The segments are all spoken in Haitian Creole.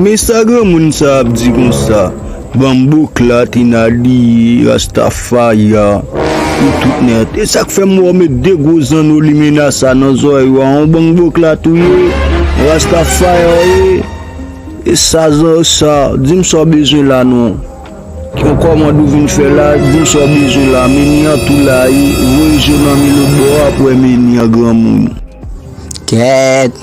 Men sa granmoun sa ap di konsa Bamboo clat in Adi rasta fire pou tout nèt e sak fèm wè w met 2 gwo zanno limena sa nan zòrèy ou a on bangbo clat ou ye rasta fire ou ye e sa zan sa dim sa w bezwen la non yon kòmand ou vin fè la dim sa w bezwen la meni an tou la e voye je w nan mi lotbò a pou wè meni an granmoun. Kèèt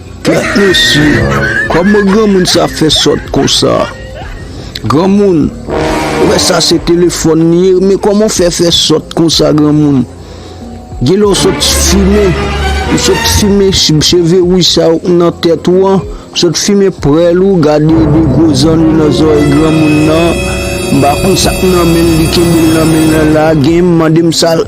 Kèt mesye, kòman granmoun sa fè sòt konsa? Granmoun, ou wè sa se telefòn li ye, men kòman ou fè fè sòt konsa granmoun? Genlè ou sot fimen, ou sot fimen cheve wouj sa yo k nan tèt ou an, sot fimen prèl ou, gade de gwo zanno nan zòrèy granmoun nan, m pa konn sa k nan men l, li kenbe l nan men l lan la, genyen m mande m sa l.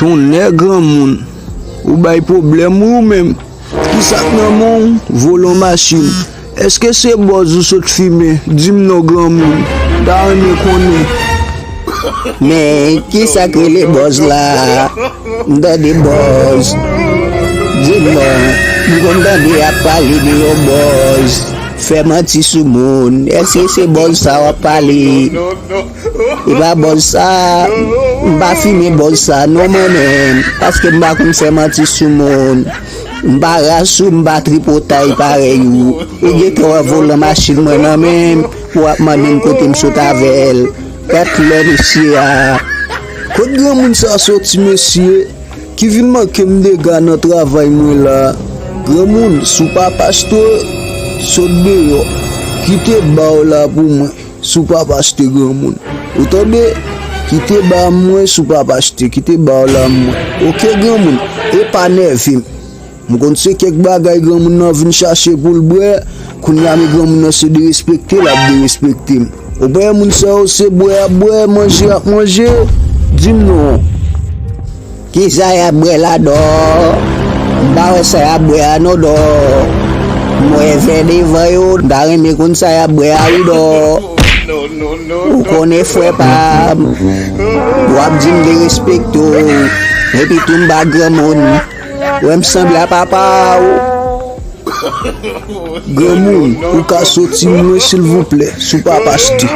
Tonnè granmoun! Ou bay pwoblèm wi ou menm! Ki sa k nan men w? Volan machin! Èske se bòz ou sot fimen? Di m non granmoun! M ta renmen konnen! Men, ki sa k rele bòz la a? M tande bòz! Di m non! M konn tande y ap pale de yon bòz! Fè manti sou moun! Èske se bòz sa a w ap pale? Epa bòz sa, m pa fimen bòz sa non mwen menm, paske m pa konn fè manti sou moun, m pa ras ou, m pa tripotay parèy ou, ou gentan wè volan machin mwen nan men m pou w ap mande m kote m sot avè l, gad lè mesye a. Kot granmoun sa soti mesye, ki vin manke m dega nan travay mwen la, granmoun si w pa pastè, sot deyò, kite ba w la pou mwen. Si w pap achte granmoun. Ou tande? Kite ba mwen si w pap achte. Kite ba w la mwen. Ok granmoun. E pa nève m. M konn se kèk bagay granmoun nan vin chache pou l bwè. Kounye a men granmoun nan se derespekte l ap derespekte m. Ou pa wè moun sa yo se bwè y ap bwè, manje y ap manje. Di m non. Kisa yap bwè la dò m pa wè sa yap bwè a non dò m wè vè devan yo m ta renmen konn sa yap bwè a wi dò ou konnen frè pam wap dim de respekte w epi tou m pa granmoun wè m sanble a papa w granmoun ou ka soti m mwen silvouplè sou papa sti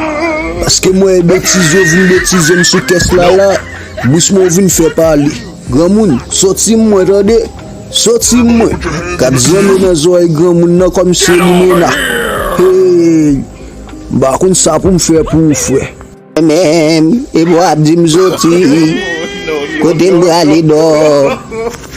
paske m wè betiz yo vin betize m sou kès la la. Doucement ou vin fè pale. Granmoun, soti mwen tande! Soti mwen! Gad zanno nan zorèy granmoun nan kòm se limena. Hey! M pa konn sa pou m fè pou ou frè. Mwen menm, epi w ap di m soti. Kote m prale dòò.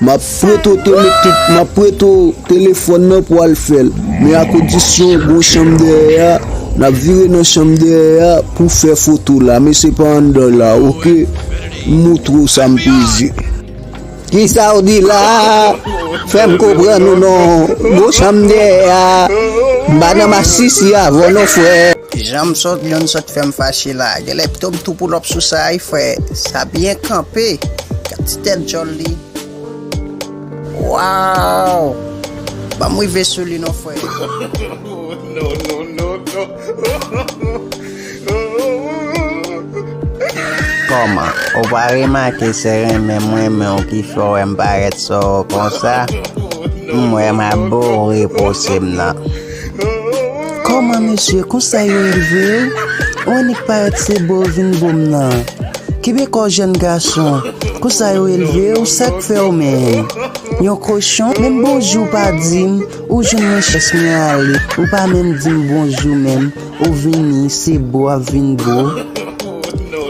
Map preto telefon map preto telefon nan pou al fel men a kondisyon gon chanm dèyè a nap vire nan chanm dèyè a pou fè foto la men se pa anndan la ok m moutre w sa m peze. Kisa w di la fè m konprann ou non gon chanm dèyè a m pa nan masisi avan w non frè. Janm sot yon sot fèm fache la genlè pito m tou poulòp sou sa wi frè sa byen kanpe gad ti tèt djòl li waww banm rive sou li non frè Kòman ou pa remake se renmen m renmen w ki fè w wè m parèt sou ou konsa m wè m ap boure pose m nan. Kòman mesye konsa yo elvew ou annik parèt se bow vin bow nan kenbe kòw jèn gason konsa yo elvew sak fèw menm yon kochon menm bonjou ou pa dim ou jwenn mwen chans mwen ale ou pa menm dim bonjou menm Ou vini se bo wap vin bo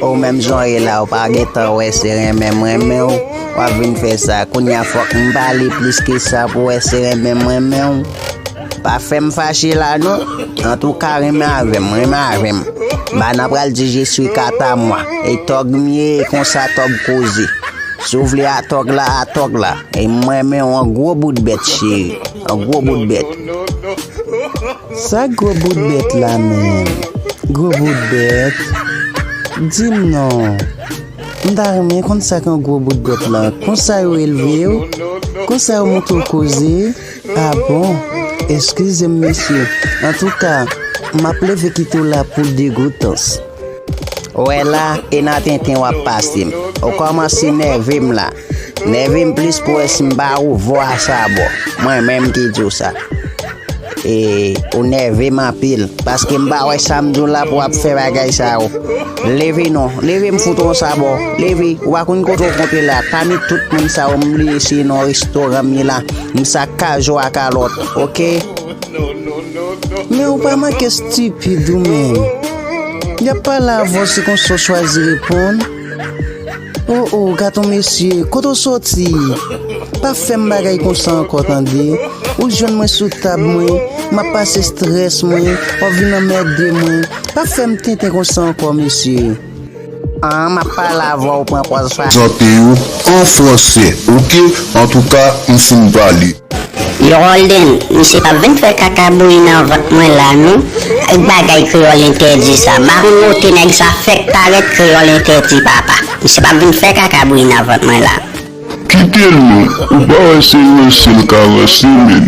oh menm jan w ye la ou pa gentan wè se renmen m renmen w wap vin fè sa kounya fòk m pale plis ke sa pou w wè se renmen m renmen w pa fè m fache la non antouka renmen avè m renmen avè m bana pral di je swi kat a mwa e tòg m ye e konsa tòg koze si w vle atòg la atòg la e m renmen w an gwo bout bèt cheri an gwo bout bèt. Sa gwo bout bèt la menm? Gwo bout bèt? Di m non. M ta renmen konn sa k yon gwo bout bèt la. Konsa yo elve w? Konsa yo montre w koze? A bon? Eskize m mesye. Antouka, m ap leve kite w la pou degoutans. Wè la, e nan tenten w ap pase m. Ou kòmanse nève m la. Nève m plis pou wè si m ba ou vo a sa bo. Mwen menm ki di w sa. E ou nève m anpil. Paske m pa wè sa m di w la pou w ap fè bagay sa yo. Leve non. Leve m fout ou yon sa bo. Leve. Ou pa konn kote w kontre la. Pami tout moun sa yo m bliye si non restoran m ye la. M sa kajou a kalòt. Ok. Men ou pa manke stupid ou menm. Yap pale avè w se konsa w chwazi reponn? Oh oh gaton mesye kote w soti? Pa fè m bagay konsa ankò tande. Ou jwenn mwen sou tab mwen map pase strès mwen wap vin anmède mwen. Pa fè m tenten konsa ankò mesye. An map pale avèw pran pòz sa. Chante yo an fransè ok. Antouka m fin pale. Yo Holden, misye pap vin fè kaka bouyi nan vant mwen la non ak bagay kreyòl entèdi sa. Maron wote nèg sa fèk parèt kreyòl entèdi papa. Misye pap vin fè kaka bouyi nan vant mwen la. Kitel non ou pa wè se ranse l ka ranse menn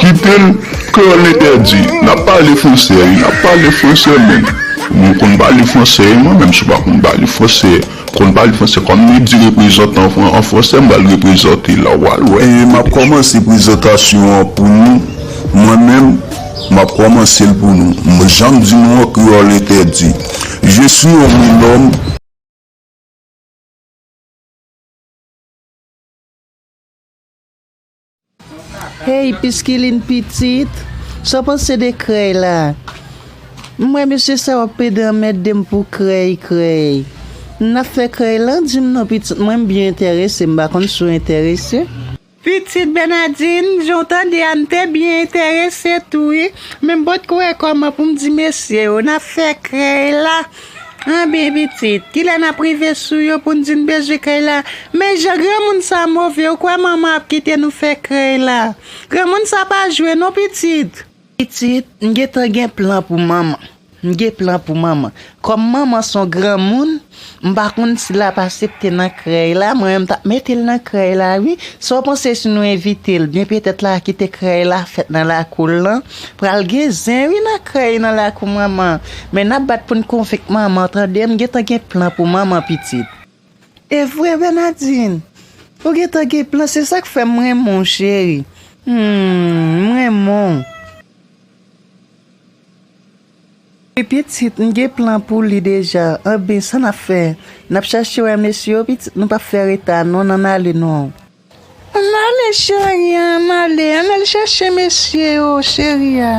kitel pkeu l entèdi nap pale fransè wi nap pale fransè menn mwen konn pale fransè wi mwen menm si w pa konn pale fransè konn pale fransè kòm yo di reprezantan an fransè m pral reprezante la wal wè. Map kòmanse prezantasyon an pou nou mwen menm map kòmanse l pou nou janm di nou an kreyòl entèdi je suis un homme l'homme. Hey piskiline pitit, sa w panse de krèy la? M wè mesye sa yo ap pede anmède m pou krèy, krèy. N ap fè krèy lan? Di m non pitit mwen, m byen enterese, m pa konn si w enterese. Pitit Bernadin, jan w tande a m te byen enterese tou wi, men m pot ko wè kòman pou m di mesye yo n ap fè krèy la. Anben pitit, kilè n ap rive sou yo pou n di n bezwen krèy la? Men jan granmoun sa move, ou kwè manman ap kite nou fè krèy la? Granmoun sa pa jwe non pitit! Pitit, m gentan gen plan pou manman. M gen plan pou manman. Kòm manman s on granmoun, m pa konn si l ap asepte nan krèy la. Mwen menm m t ap mete l nan krèy la wi. Sa w panse si nou envite l? Byen petèt l a kite krèy la fèt nan lakou l lan. Pral gen zen wi nan krèy nan lakou manman. Men n ap bat pou n konvenk manman tande. M gentan gen plan pou manman pitit. Evre Bernadine! Ou gentan gen plan se sak fèm renmen w cheri. Humm m renmen w. Wi pitit m gen plan pou li deja. Anben sa nap fè? Nap chache wè mesye yo pitit nou pap fè reta non nan ale non. Ann ale cheri ann ale ann al chache mesye yo cheri a.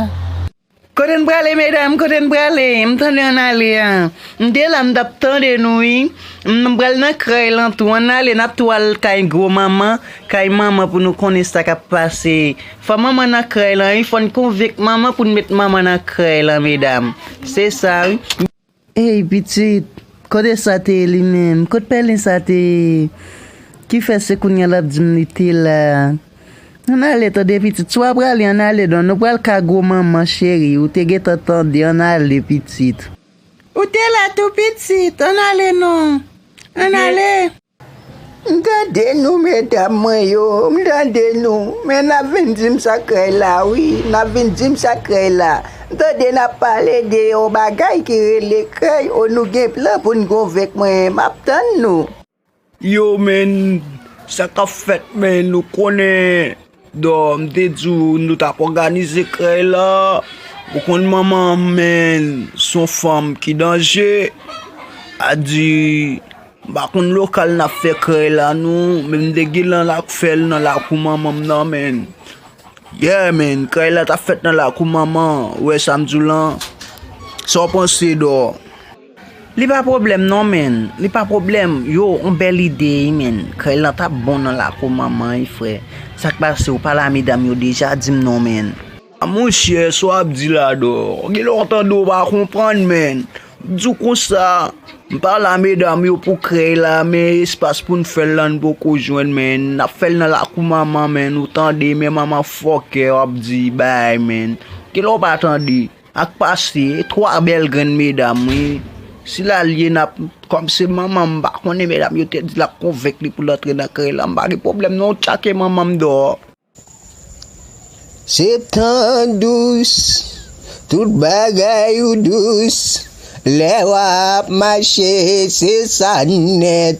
Kote n prale medam kote n prale m tande ann ale a m te la m tap tande nou wi m pral nan krèy lan tou ann ale nap tou al kay gwo manman kay manman pou nou konnen sa kap pase fò manman nan krèy lan wi fòn konvenk manman pou n met manman nan krèy lan medam se sa wi. Hey pitit, kote sa te ye li menm? Kot pèlen sa te ye? Ki fè se kounya lap di m li te la? Ann ale tande pitit, si w a prale ann ale don, nou pral ka gwo manman cheri, ou te gentan tande, ann ale pitit. Ou te la tou pitit, ann ale non, ann ale. M tande nou medam mwen yo m tande nou men nap vin dim sa krèy la wi nap vin dim sa krèy la m tande nap pale de yon bagay ki rele krèy o nou gen plan poun gonvenk mwen map tann nou. Yo men sa kap fèt men nou konnen. Dor m te di w nou tap òganize krèy la ou konn manman m menn son fanm ki danje a di m pa konn lokal nap fè krèy la non men m te gen nan lap fè l nan lakou manman m nan menn yè menn krèy la tap fèt nan lakou manman ou wè sa m di w lan sa w panse Dor. Li pa pwoblèm non menn. Li pa pwoblèm. Yo on bèl ide wi menn. Kay lan tap bon nan lakou manman wi frè. Sak pase ou pale a medam yo deja dim non menn. A mon chè sa w ap di la dor, gen lè w tande w pa konprann menn, m di w konsa, m pale a medam yo pou krèy la men espas pou n fè l la n poko jwenn menn, n ap fè l nan lakou manman menn ou tande men manman fòkè w ap di bay menn, gen lè w pa tande. Ak pase 3 bèl grenn medam wi. Si lalie nap kòm se manman m pa konnen medam yo te di lap konvenk li poul antre nan krèy lan m pa gen pwoblèm non tchake manman m dehors. Se tan dous, tout bagay ou dous, lè wap mache se sa nèt.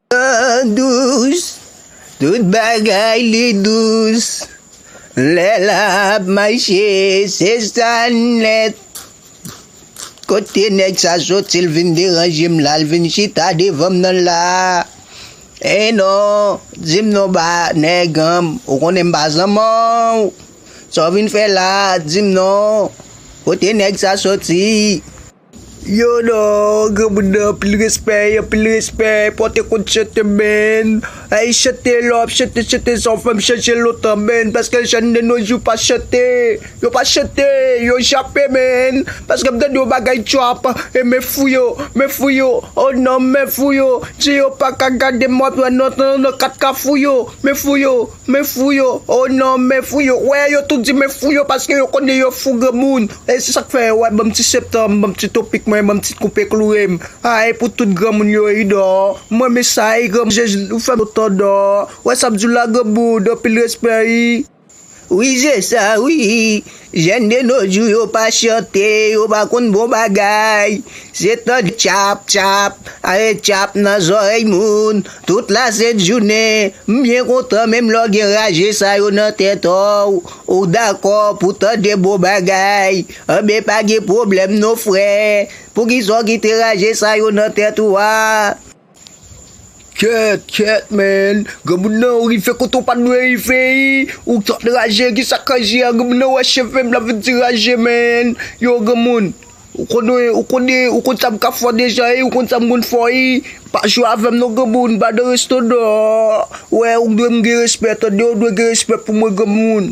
Tan dous, tout bagay li dous Lè lap mache se sa nèt Kote nèg sa soti l vin deranje m la L vin chita devan m nan la E non, di m non ba nèg an m Ou konnen m pa zanman w Sa w vin fè la, di m non Kote nèg sa soti. Yo non granmoun nan anpil respect anpil respect pote kont chante menn ayy chante lè wap chante chante sa ou fèm chanje lontan menn paske jèn de nos jours pa chante yo pa chante yo jape menn paskem tande yon bagay trap e men fou yo men fou yo oh non men fou yo je yo paka gadem wap wè nan kat kafou yo men fou yo Men fou yo, oh non men fou yo, wè yo tout di men fou yo paske yo konnen yo fou granmoun, e se sak fè wè banm ti septanm, banm ti topik mwen, banm ti koupe klourem, ah e pou tout granmoun yo ui dòò, m renmen sa ui granmoun jezi ou fèm kontan dòò, wè sam diw la granmoun anpil respè ui. Wi se sa wi. Jèn de no jou yo pa chante, yo pa konn bon bagay. Se tande tchap, tchap, are tchap nan zòrèy moun, tout la sent jounen. M byen kontan menm lè w gen raje sa yo nan tèt w, ou dakò pou w tande bon bagay. Anben pa gen pwoblèm non frè, poukisa w kite raje sa yo nan tèt ou a? Kyèt kyèt man granmoun nan ou rive kote ou pat dwe rive ii ou trop raje kisa k raje a granmoun nan wè chevem la vin ti raje man yow granmoun ou konnen ou konnen ou konn sa m ka fò deja ii ou konn sa m konn fò ii pa jwe avèm non granmoun ba de resto nan wè ou dwe m gen respè tande ou dwe gen respè pou mwen granmoun.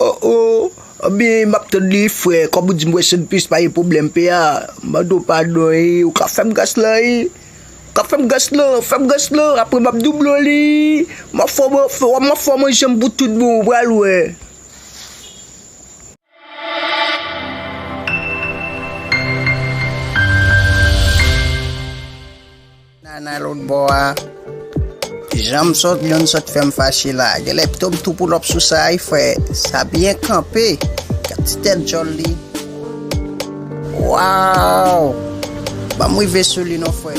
Oh oh anbyen map tann li frè kòm ou dim wè sèn plis pa gen problèm pè a mande w padon ii ou ka fèm gras lan ii ou ka fèm gras lan fèm gras lan aprè map doublew li ii map fè w manje pou tout bon ou pral wè. Nana lout bò a Janm sòt youn sòt fèm fache la Genlè pito m tou poulòp sou sa y fè Sa byen kanpe Gad ti tèt djòl li Waww Banm rive sou li non frè.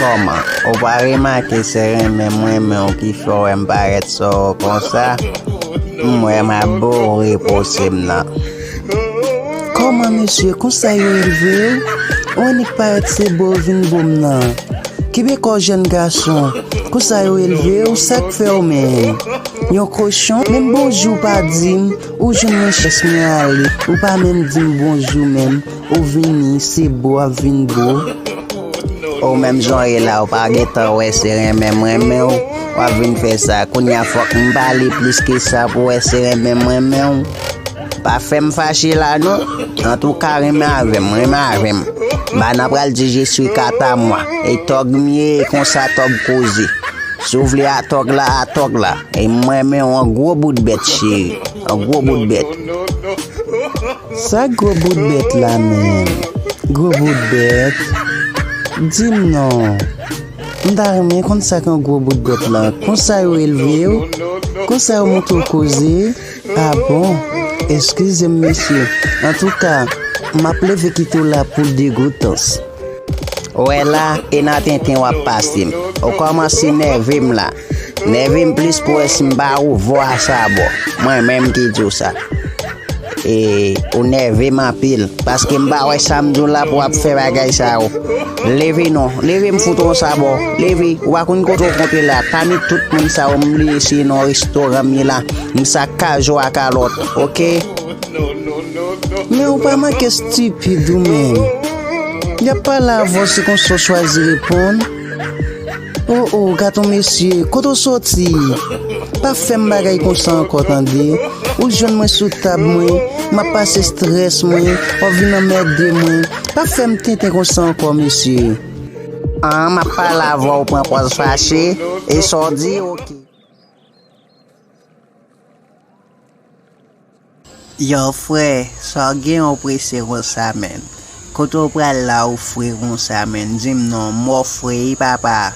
Kòman, ou pa remake se renmen m renmen w ki fè w wè m parèt sou w konsa? M wè m ap boure pose m nan. Kòman mesye, konsa yo elve w? Ou annik parèt se bo w vin bo m nan? Kenbe kò w jèn gason, konsa yo elve w? Sa k fè w menm? Yon kochon? Menm bonjou w pa di m, ou jwenn mwen chans mwen ale, ou pa menm di m bonjou menm. Ou vini se bo ap vin bo. Ou menm jan w ye la ou pa gen tan wè se renmen m renmen w w ap vin fè sa kounye a fòk m pale plis ke sa pou w wè se renmen m renmen w pa fè m fache la non antouka renmen avè m renmen avè m bana pral di je swi kata mwa e tòg m ye e konsa tòg koze si w vle atòg la atòg la e m renmen w an gwo bout bèt cheri an gwo bout bèt Sa gwo bout bèt la menm? Gwo bout bèt? Di m non. M ta renmen konn sa k yon gwo bout bèt la. Konsa yo elve w? Konsa yo montre w koze? A bon? Eskize m mesye. Antouka, m ap leve kite w la pou degoutans. Ou wè la, e nan tenten w ap pase m. Ou kòmanse nève m la. Nèvem plis pou wè si m pa ou vwa sa boo. Mwen menm ki di w sa. E ou nève m anpil. Paske m pa wè sa m di w la pou ap fè bagay sa yo. Leve non. Leve m fout ou sa boo. Leve. Ou pa konn kote ou kontre la. Pami tout moun sa yo m bliye si non restoran m ye la. M sa kajo a kalot. Ok. Men ou pa manke stupid ou menm. Yap pale avè w se konsa w chwazi reponn. Oh oh gaton mesye kote w soti pa fèm bagay konsa ankò tande ou t jwenn mwen sou tab mwen map pase strès mwen wap vin anmède mwen pa fèm tenten konsa ankò mesye ah map pale avè w pran pòz fache e sa w di ok. Yow frè sa w gen ou prese konsa menn kote w pral la ou fre konsa menn dim non mò fre wi papa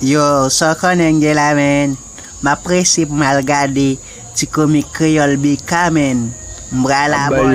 yow sa w konnen gen la menn map prese pou m al gade ti komik kreyòl BK menn m pral abòne.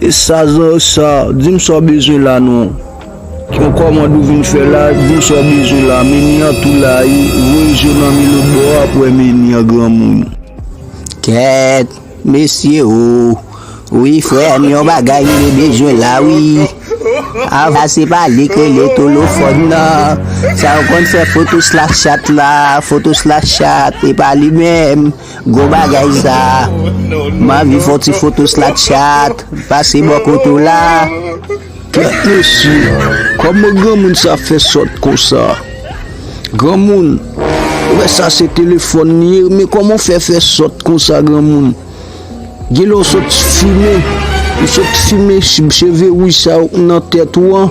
E sa zan sa, dim sa w bezwen la non. Yon kòmand ou vin fè la, dim sa w bezwen la. Meni an tou la wi, voye je w nan mi lòt bò a pou wè meni an granmoun. Kèt, mesye oo. Wi frè m yon bagay m gen bezwen la wi. Ava se pa li k rele tolofòn nan. Sa w konn fè foto slakchat la, foto slakchat e pa li menm. Gwo bagay sa M anvi fè yon ti foto slapchat Pase bò kote w la Kèt mesye Kòman granmoun sa fè sòt konsa Granmoun Ou wè sa se telefòn li ye Men kòman w fè fè sòt konsa granmoun Gen lè w sot fimen Ou sot fimen cheve wouj sa yo k nan tèt ou an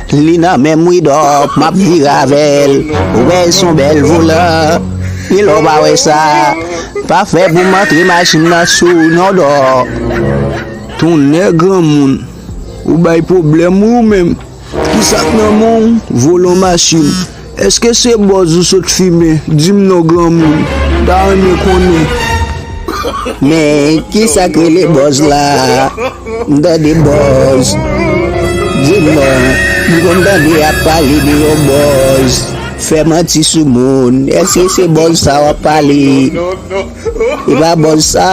Li nan menm widòp map vire avèl ou wè son bèl volè wi lè w pa wè sa pa fè pou m antre machin nan sou w non dò. Tonnè granmoun ou bay pwoblèm wi ou menm kisak nan men w volan machin. Eske se bòz ou sot fimen? Dim non granmoun, m ta renmen konnen. Men kisa k rele bòz la? M tande bòz. Dim non, m konn tande yap pale de yon bòz. Fè manti sou moun. Eske se bòz sa wap pale? E pa bòz sa?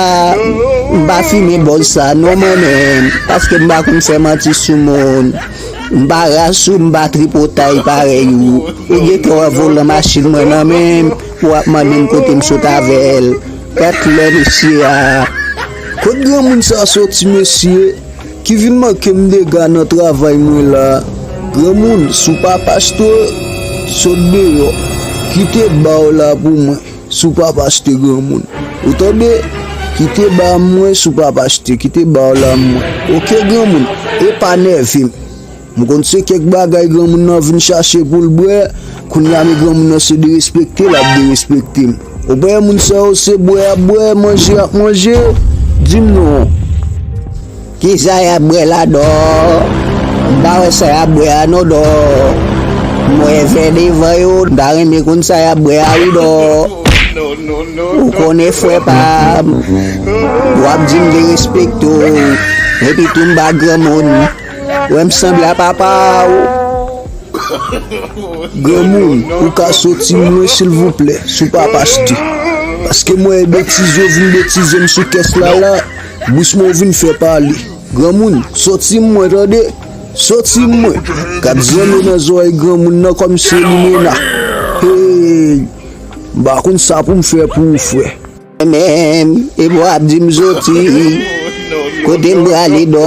M pa fimen bòz sa non mwen menm, paske m pa konn fè manti sou moun. M pa ras ou, m pa tripotay parèy ou. Ou gentan wè volan machin mwen nan men m pou w ap mande m kote m sot avè l. Gad lè mesye a. Kot granmoun sa soti mesye ki vin manke m dega nan travay mwen la. Granmoun si w pa pastè sot deyò kite ba w la pou mwen. Si w pap achte granmoun. Ou tande? Kite ba mwen si w pap achte, kite ba w la mwen. Ok granmoun, e pa nève m. M konn se kèk bagay granmoun nan vin chache pou l bwè, kounye a men granmoun nan se derespekte l ap derespekte m. Ou pa wè moun sa yo se bwè y ap bwè, manje y ap manje? Di m non. Kisa yap bwè la dò m pa wè sa yap bwè a non dò m wè vè devan yo m ta renmen konn sa yap bwè a wi dò ou konnen frè pam wap dim de respekte w epi tou m pa granmoun wè m sanble a papa w granmoun ou ka soti m lwen silvouplè sou papa stu paske m wè betiz yo vin betize m sou kès la la. Doucement ou vin fè pale. Granmoun, soti m mwen tande. Soti m mwen. Kat zanno nan zorèy granmoun nan kòm se limena. Hey! M pa konn sa pou m fè pou ou frè. Mwen menm, epi w ap di m soti. Kote m prale dò.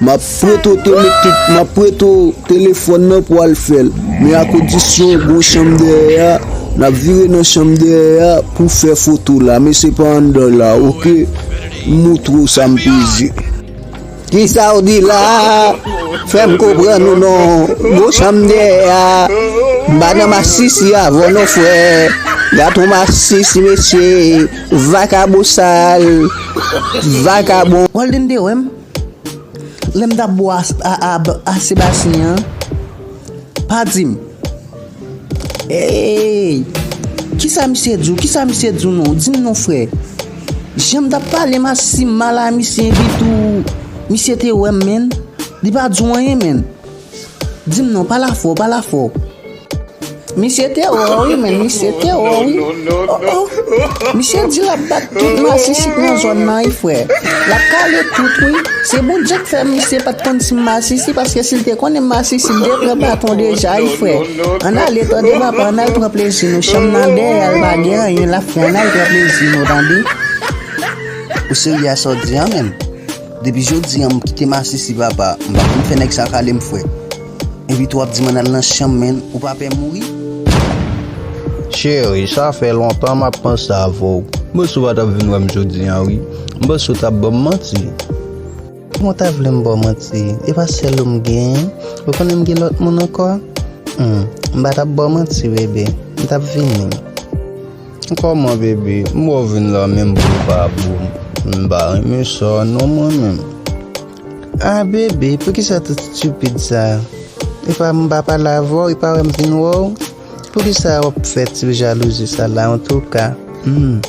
Map prete w te met tout, map prete w telefòn nan pou al fè l, men a kondisyon w gon chanm dèyè a, nap vire nan chanm dèyè a pou fè foto la, men se pa anndan la ok, m moutre w sa m peze. Kisa w di la, fè m konprann ou non, gon chanm dèyè a, m pa nan masisi avè w non frè, gat on masisi mesye, vakabon sal, vakabon. Golden te wè m. Lè m t ap bo a Sebastien an, pa di m, Eeyy! Ki sa misye di w? Ki sa misye di w non? Di m non frè. Jan m t ap pale m a si mal a misye epitou misye te wè m menn, li pa di w anyen menn. Dim non pa la fò pa la fò. Misye te wè w wi menn misye te wè w wi oh oh Misye di lap bat tout masisi k nan zòn nan wi frè Lap kale tout wi Se bon Dye k fè misye pat konn si m masisi paske si l te konnen m masisi m te pran baton deja wi frè Ann ale tande papa ann al pran plezi nou Chanm nan dèyè l pa gen anyen la frè ann al pran plezi nou tande Ou serye a sa w di an menn? Depi jodi an m kite masisi papa m pa konn fè nèg sa kale m fwèt epi tou wap di m ann al nan chanm menn ou pa pè mouri. Cheri sa fè lontan map panse avè w m panse w pa tap vin wè m jodi an wi m panse w tap ban m manti. Kòman w ta vle m ba w manti e pa sèl ou m genyen ou konnen m gen lòt moun ankò humm m pa tap ba w manti bebe m tap vini. Kòman baby m wè w vin la menm boo pa boo m pa renmen sa non mwen menm. Ah baby poukisa tout stupid sa epa m pa pale avè w epa wè m vin wè w poukisa wap fè ti jalouzi sa la antouka humm.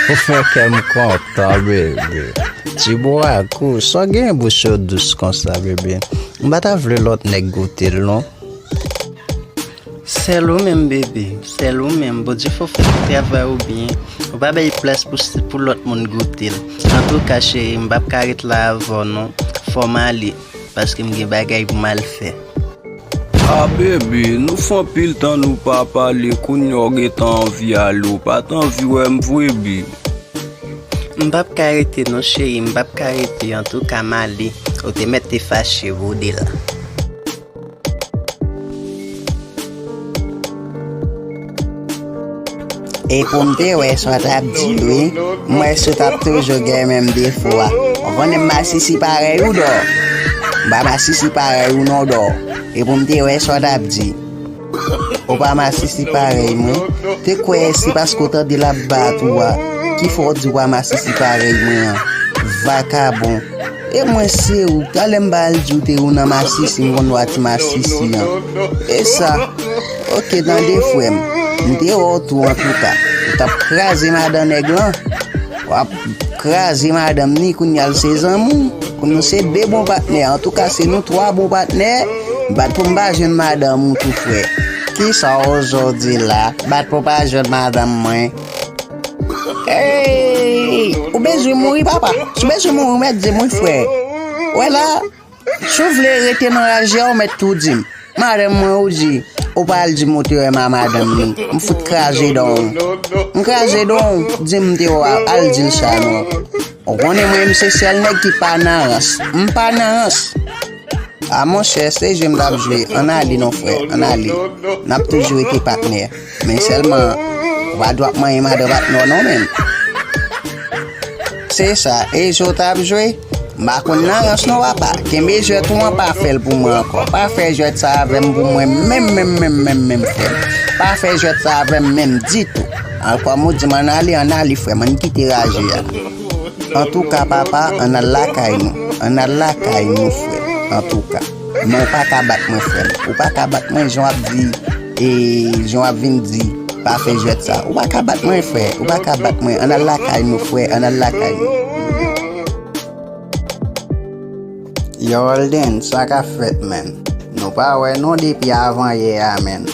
Ou fè kè m kontan bebe. Ti bo a kou, sa w genyen bouch yo dous konsa bebe. M pa ta vle lòt nèg goute l non. Sèl ou menm bebe, sèl ou menm. Bondye fè w fè tout travay ou byen. Ou pa bay plas pou lòt moun goute l. Antouka cheri m pap ka ret la avè w non. Fò m ale. Paske m gen bagay pou m al fè. Ah bebe nou fè anpil tan nou pa pale kounya ou gentan anvi ale ou pat anvi wèm vre bby. M pap ka rete non cheri m pap ka rete antouka m ale ou te mèt te fache vode la. E pou m te wè sa w t ap di wi, m wè si w t ap toujou gen menm defo a. Ou konnen masisi parèy ou dò. M pa masisi parèy ou non dò. E pou m te wè sa w t ap di. Ou pa masisi parèy mwen. Te kwè se paske w tande l ap bat ou a ki fè w di w pa masisi parèy mwen an. Vakabon. E mwen se ou, talè m pa al di ou te ou nan masisi m konn lwa ti masisi an. E sa? Ok tande frè m, m te wè w tou antouka. Ou t ap kraze madan nèg lan. W ap kraze madanm ni kounya l se zanmi w. Kounya nou se 2 bon patnè. Antouka se nou 3 bon patnè. Bat pou m pa jwenn madanm ou tou frè. Kisa w zo di la? Bat pou w pa jwenn madanm mwen? Hey! Ou bezwen mouri papa? Si ou bezwen mouri ou mèt di mwen frè. Wè la, si ou vle rete nan raje a ou mèt tou di m. Madanm mwen ou di, ou pa al di Moterem a madanm li, m fout kraze dan w. M kraze dan w, di m te wè w al di l sa non. Ou konnen mwen menm se sèl nèg ki pa nan rans. M pa nan rans. A monchè, se jwe m t ap jwe, an n ale non frè, an n ale. N ap toujou rete patnè. Men selman Wad wap manyen madanm ak nò non menm. Se sa Ezo tap jwe? M pa konn nan rans non papa. Kenbe jwèt ou an pa fèl pou mwen ankò. Pa fè jwèt sa avèm pou mwen menm menm menm menm menm frèm. Pa fè jwèt sa avèm menm ditou. An kòm ou dim an ale an ale frèm an kite raje a. Antouka papa an al lakay nou. An al lakay nou frèm antouka. Non ou pa ka bat mwen frèm. Ou pa ka bat mwen jan wap di e jan wap vin di pa fè jwèt sa. Ou pa ka bat mwen frè. Ou pa ka bat mwen. An al lakay nou frè. An al lakay nou. Yow Holden sa kap fèt menn. Nou pa wè non depi avan yè a menn.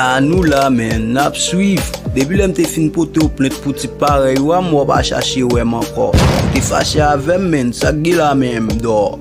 A nou la menn. Nap swiv. Depi lèm te fin potew plent pou tip parèy ou a m wè w pa chache wèm ankò. Ou te fache avèm menn. Sak gen la menm Dor.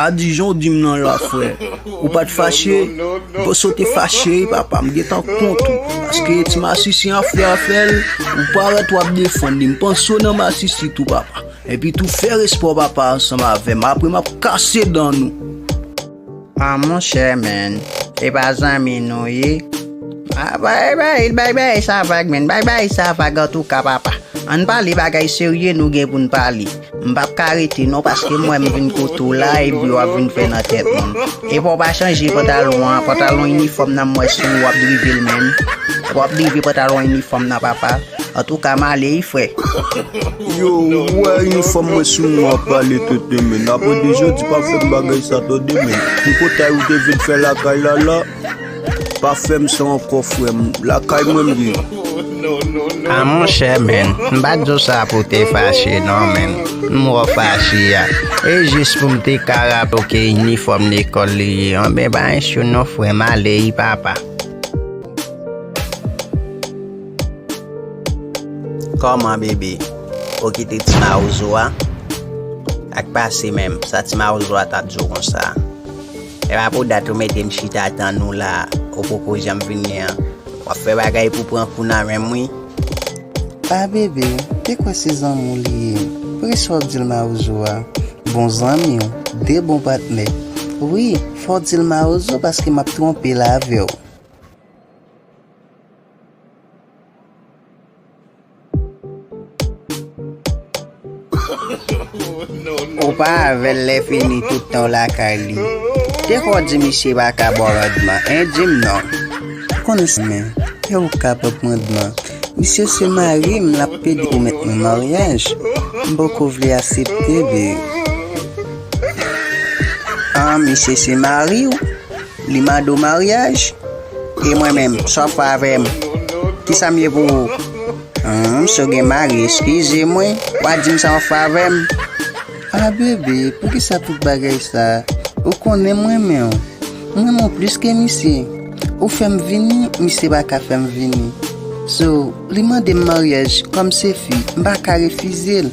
A Dijon w dim nan la frè Ou pat fache Bon si w te fache papa m gentan kont ou Paske ti masisi an frè a fè l Ou parèt w ap defann li M panse w nan masisi tou papa Epitou fè respè w papa ansanm avè m Apre m ap kase dan nou Ah monchè menn epa zanmi nou ye ah bay bay bay bay sa vag menn bay bay sa vag antouka papa ann pale bagay serye nou gen poun pale m pap ka rete non paske m wè m vin kote w la epi wap vin fè nan tèt moun epa w pa chanje pantalon an pantalon inifòm nan m wè sou ou wap drive l menn wap drive pantalon inifòm nan papa. Antouka m ale wi frè. Yo ou wè inifòm mwen sou mwen wap pale tenten men nap ede jodi pa fèm bagay sa to demen tripotay ou te vin fè lakay la la pa fèm sa ankò frèm lakay mwen m ye. Ah monchè menn m pat diw sa pou te fache non menn m wè w fache a e jis pou m te ka raple w ke inifòm lekòl li ye an men pa issue non frè m ale wi papa. Kòman bebe ou kite ti mawozo a ak pase menm sa ti mawozo a tap diw konsa e pa pou dat ou mete m chita tann ou la ou poko janm vin ni an wap fè bagay pou pran kou nan menm wi a bebe te kwè se zanmiw li ye poukisa wap dil mawozo a bon zanmiw de bon patnè wi fòw dil mawozo paske map twonpe l avèw. Ou pa avèl lè fini tout tan w lakay li. Te fè w di misye pa ka ba w randman, hein, di m non. Ou konn sa men, ke ou ka ba m randman. Misye se mari m, l ap pede pou mèt nou maryaj. M poko vle asepte li. An, misye se mari w? Li mande w maryaj? E mwen menm, sa w ap fè avè m? Ki sa m ye pou ou? Hum, si w gen mari, eskize m wi, wa di m sa w ap fè avè m? Ah bebe, poukisa tout bagay sa? Ou konnen m renmen w. M renmen w plis ke misye. Ou fè m vini, misye pa ka fè m vini. So, li mande m maryaj, kòm se fi, m pa ka refize l.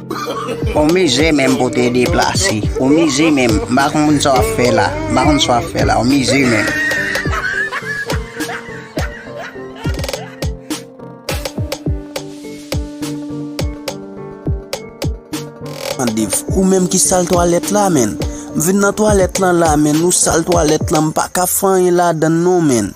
Ou mize menm pou te deplase. Ou mize menm. M pa konprann sa w ap fè la. M pa konn sa w ap fè la. Ou mize menm. Ou menm ki sal twalèt la menn. M vin nan twalèt lan la menn. Ou sal twalèt lan. M pa ka fè anyen ladan l non menn.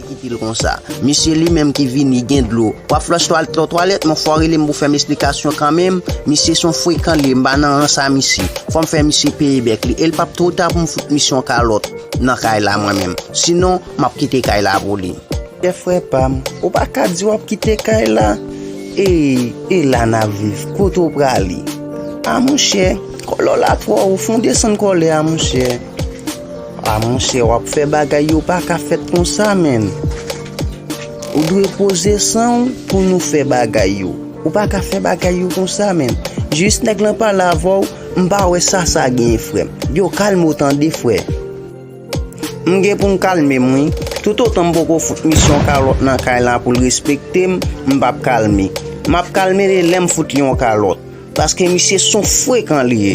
kite l konsa. Mesye li menm ki vini gen dlo. Wap flòch twal to twalèt mon fò relem pou fèm esplikasyon kanmenm misye son frekan liye m pa nan ran sa misye fòm fè misye peye bèk li el pap two ta pou m fout misye yon kalòt nan kay la mwen menm sinon map kite kay la pou li. Kè frè pam, ou pa ka di wap kite kay la eey e la nap viv kote w prale a monchè kòlè w la twò wo fon desann kòlè a monchè. Ah monchè wap fè bagay yo paka fèt konsa menn Ou dwe poze sanw pou nou fè bagay yo Ou paka fè bagay yo konsa menn Jis nèg lan pale avèw m pa wè sa sa genyen frèm Yo kalmew tande frè M gen poum kalmem wi Tout otan m poko fout misye yon kalòt nan kay la poul respektem m pap kalme Map kalme li lèm fout li yon kalòt Paske misye son frekan li ye.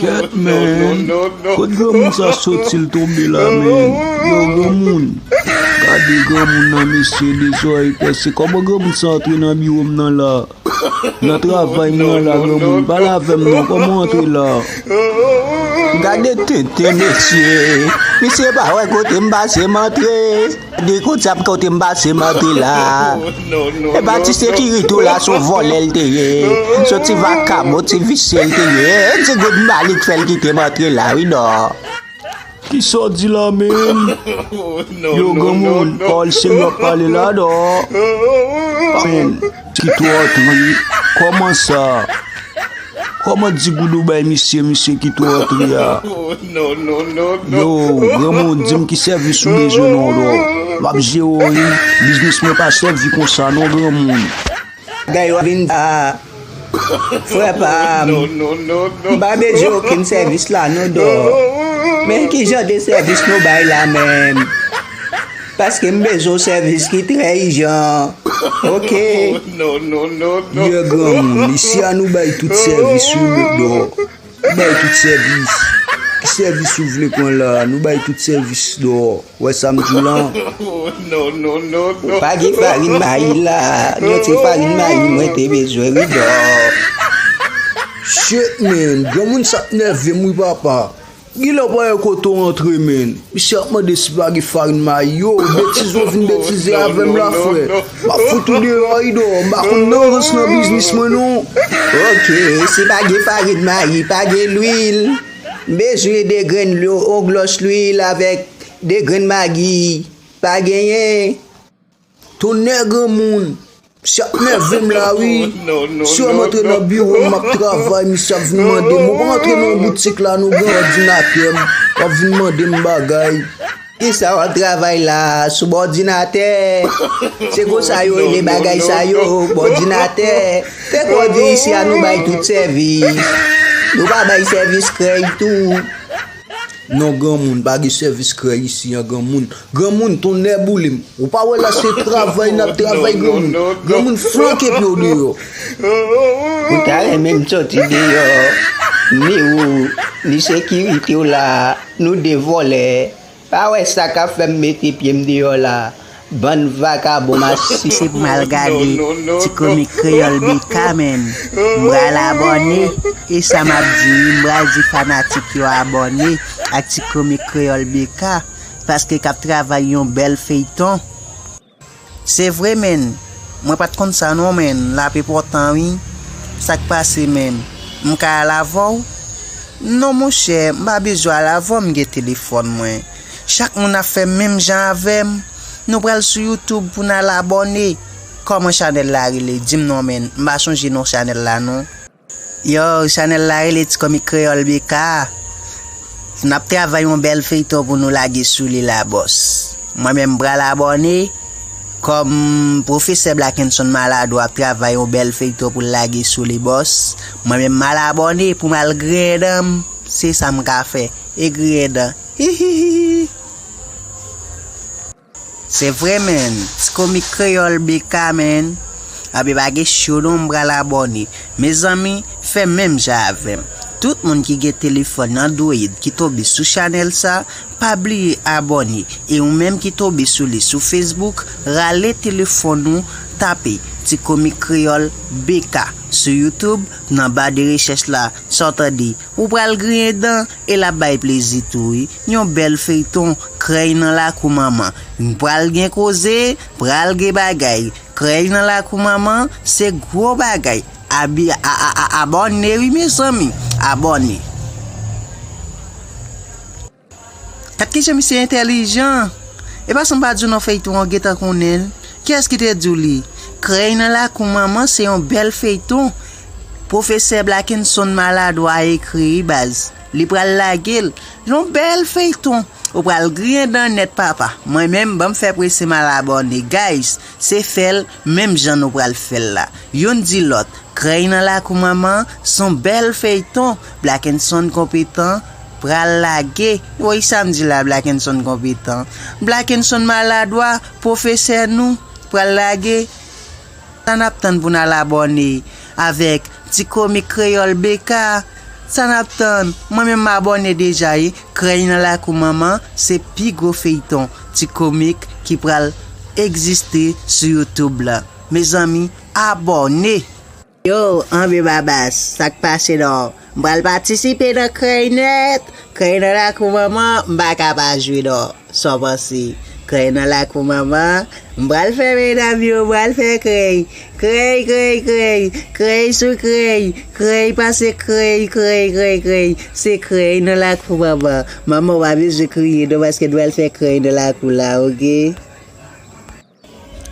Ket menn kot granmoun sa sotil tonbe la menn yow granmoun gade granmoun nan mesye de zòrèy pèse kòman granmoun sa antre nan biwom nan la nan travay mwen an la granmoun pale avèm non kòman ou antre la gade tenten mesye misye pa wè kotem pase mantre. Gade kout zam kote m pase m antre la E pa ti sekirite w la son vòlè l te ye Son ti vakabon ti visye l te ye E ti goud m ba li k fè l kite m antre la wi non Kisa w di la menm Yo granmoun Paul Senior ap pale la non Amen Ti tròt ri Koman sa Koman ti goudou bay misye misye ki tròt ri a Yo granmou dim ki sèvis ou bezwen non lò Map jere w wi Biznis mwen pa sèvi konsa non granmoun Bagay yo ap vin ta Frè pa m M pa bezwen okenn sèvis la non dò Men kijan de sèvis nou bay la menm. Paske m bezwen yon sèvis ki trè ijan ok. Ye granmoun li si a nou bay tout sèvis wi Bodo nou bay tout sèvis ki sèvis ou vle pran la nou bay tout sèvis do wè sa m di w lan. Ou pa gen farin mayi la non se farin mayi mwen te bezwen wi do. Shit man granmoun sa ap nève m wi papa. Genlè ou pa wè kote w antre menn. Misye ap mande si pa gen farin mayi. Yo, betize w vin betize avè m la frè. M ap fout ou deyò Ido. M pa konn nan rans nan biznis mwen non. Ok, si pa gen farin mayi, pa gen lwil. M bezwen 2 grenn lwi, yon glòs lwil avèk 2 grenn magi. Pa genyen? Tonnè granmoun! Misye ap nève m la wi. Si wè m antre nan biwo m map travay misye ap vin mande m ou pa antre nan boutik la non gen òdinatè m wap vin mande m bagay. Kisa wap travay la sou bòdinatè? Se konsa yo rele bagay sa yo bòdinatè. Fè kò w di isi a nou bay tout sèvis. Nou pa bay sèvis krèy tou. Non granmoun pa gen sèvis krèy isi an granmoun. Granmoun tonnè boulem ou pa wè la se travay nap travay granmoun granmoun flanke pyew deyò. Ou ta renmen m soti deyò ni ou ni sekirite w la nou 2 vòlè pa wè sa ka fèm mete pye m deyò la bann vakabon masiv. Se pou m al gade ti komik kreyòl BK menm m pral abòne e sa map di wi m pral di fanatik yo abòne ak ti komik kreyòl BK. paske kap travay yon bèl feyton. Se vre menn mwen pat konn sa non menn lap enpòtan wi sak pase menn m ka al avèw non monchè m pa bezwen al avèw m gen telefòn mwen chak moun ap fè menm jan avèm nou pral sou youtube pou nal abòne kòman chanèl la rele dim non menn m pa sonje non chanèl la non. Yow chanel la rele tikomik kreyol BK nap travay yon bel feyton pou nou lage sou li la bos mwen menm pral abone kom profesè blakenson maladwa ap travay yon bel feyton poul lage sou li bos mwen menm mal abone poum al griyen danm se sam ka fè e griyen dan hihihihi. Se vre menn, ti komik kreyòl BK menn, anbe pa gen cho non m pral abòne, mezanmi fè menm jan avèm, tout moun ki gen telefòn android ki tonbe sou chanèl sa pa bliye abòne e ou menm ki tonbe sou li sou Facebook rale telefòn ou tape ti komik kreyòl BK sou YouTube nan ba de rechèch la sa w tande ou pral griyen dan e lap bay plezi tou wi. Yon bèl feyton krèy nan lakou manman n pral gen koze pral gen bagay krèy nan lakou manman se gwo bagay abi aabòne wi mezanmi abòne. Gad kijan misye entèlijan epa sam pa diw non feyton an ou gentan konnenl kiyès ki te diw li krèy nan lakou manman se yon bèl feyton pwofesè blakenson maladwa ekri wi baz. Li pral lagel Yon bel feyton. Ou pral griyen dan nèt papa. Mwen menm banm fè prese mal abòne guys se fèl menm jan nou pral fèl la youn di lòt krèy nan lakou manman son bèl feyton blakenson konpetan pral lage woy sam di la blakenson konpetan blakenson maladwa pwofesè nou pral lage. Sa nap tann pou nal abòne avèk ti komik kreyòl BK? Sa nap tann? Mwen menm m abòne deja wi, krèy nan lakou manman se pi gwo feyton ti komik ki pral egziste sou youtube lan mezanmi abòne. Yow anbe babas sak pase non M pral patisipe nan krèy nèt Krèy nan lakou manman M pa ka pa jwe non Sa w panse Krèy nan lakou manman M pral fè medam yo M pral fè krèy Krèy krèy krèy Krèy sou krèy Krèy pase krèy Krèy krèy krèy Se krèy nan lakou manman Manman w pa bezwen kriye non Paske n pral fè krèy nan lakou la ok.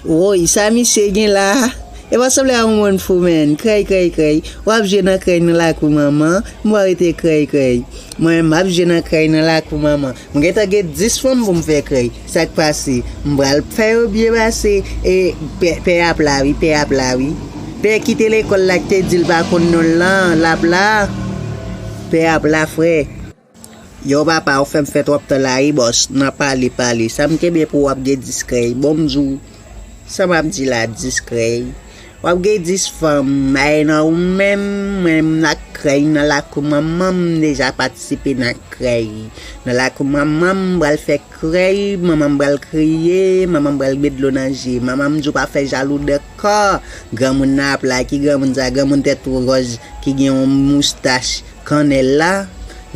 Woyy sa misye gen la E pa sanble a yon moun fou menn Krèy krèy krèy Wap jwe nan krèy nan lakou manman M wap rete krèy krèy Mwen menm map jwe nan krèy nan lakou manman M gentan gen 10 fanm pou m fè krèy Sak pase M pral fè yo byen pase E pè ap la wi pè ap la wi Pè ki te lekòl la ki te di l pa konn non l lan lap la Pè ap la frè. Yow papa ou fèm fè tròp tan la wi bòs nan pale pale sam kenbe pou ou ap gen 10 krèy bon m diw sa map di la 10 krèy wap gen 10 fanm maye nan ou menm mwen m ak krèy nan lakou manman m deja patisipe nan krèy nan lakou manman m pral fè krèy manman m pral kriye manman m pral met dlo nan je manman m diw pa fè jalou de kò granmoun nan ap la ki granmoun sa granmoun tèt wòz ki gen yon moustach Kannèl la,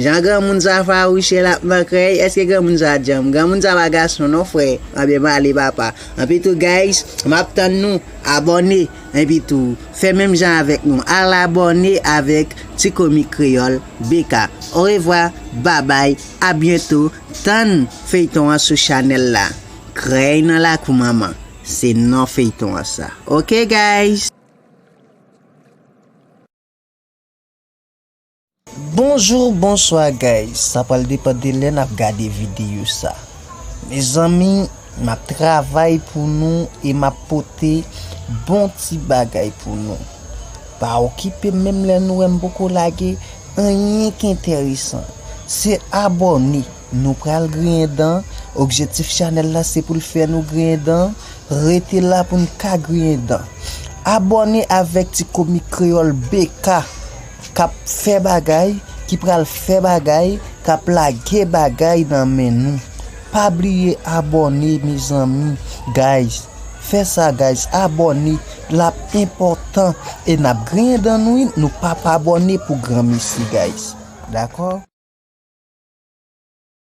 jan granmoun sa fawouche lap nan krèy, eske granmoun sa djanm, granmoun sa pa gason non frè, anbyen pale papa, anpi tou guys map tann nou, abòne, enpi tou fè menm jan avèk nou al abòne avèk ti komik kreyòl BK, orevwa, babay, a byento, tann feyton an sou chanèl la, krèy nan lakou manman, se non feyton an sa ok guys. Bonjour bonswa guys sa pral depan de lè nap gade video sa mezanmi map travay pou nou e map pote bon ti bagay pou nou pa okipem menm lè nou wèm poko lage anyen ki enteresan se abòne. Nou pral griyen dan, objektif chanèl la se poul fè nou griyen dan, rete la poun ka griyen dan. Abòne avèk ti komik kreyòl BK kap fè bagay, ki pral fè bagay, kap lage bagay nan men nou. Pa bliye abòne mezanmi guys, fè sa guys abòne. Lap enpòtan e nap griyen dan nou wi nou pap abòne pou granmesi guys dakò.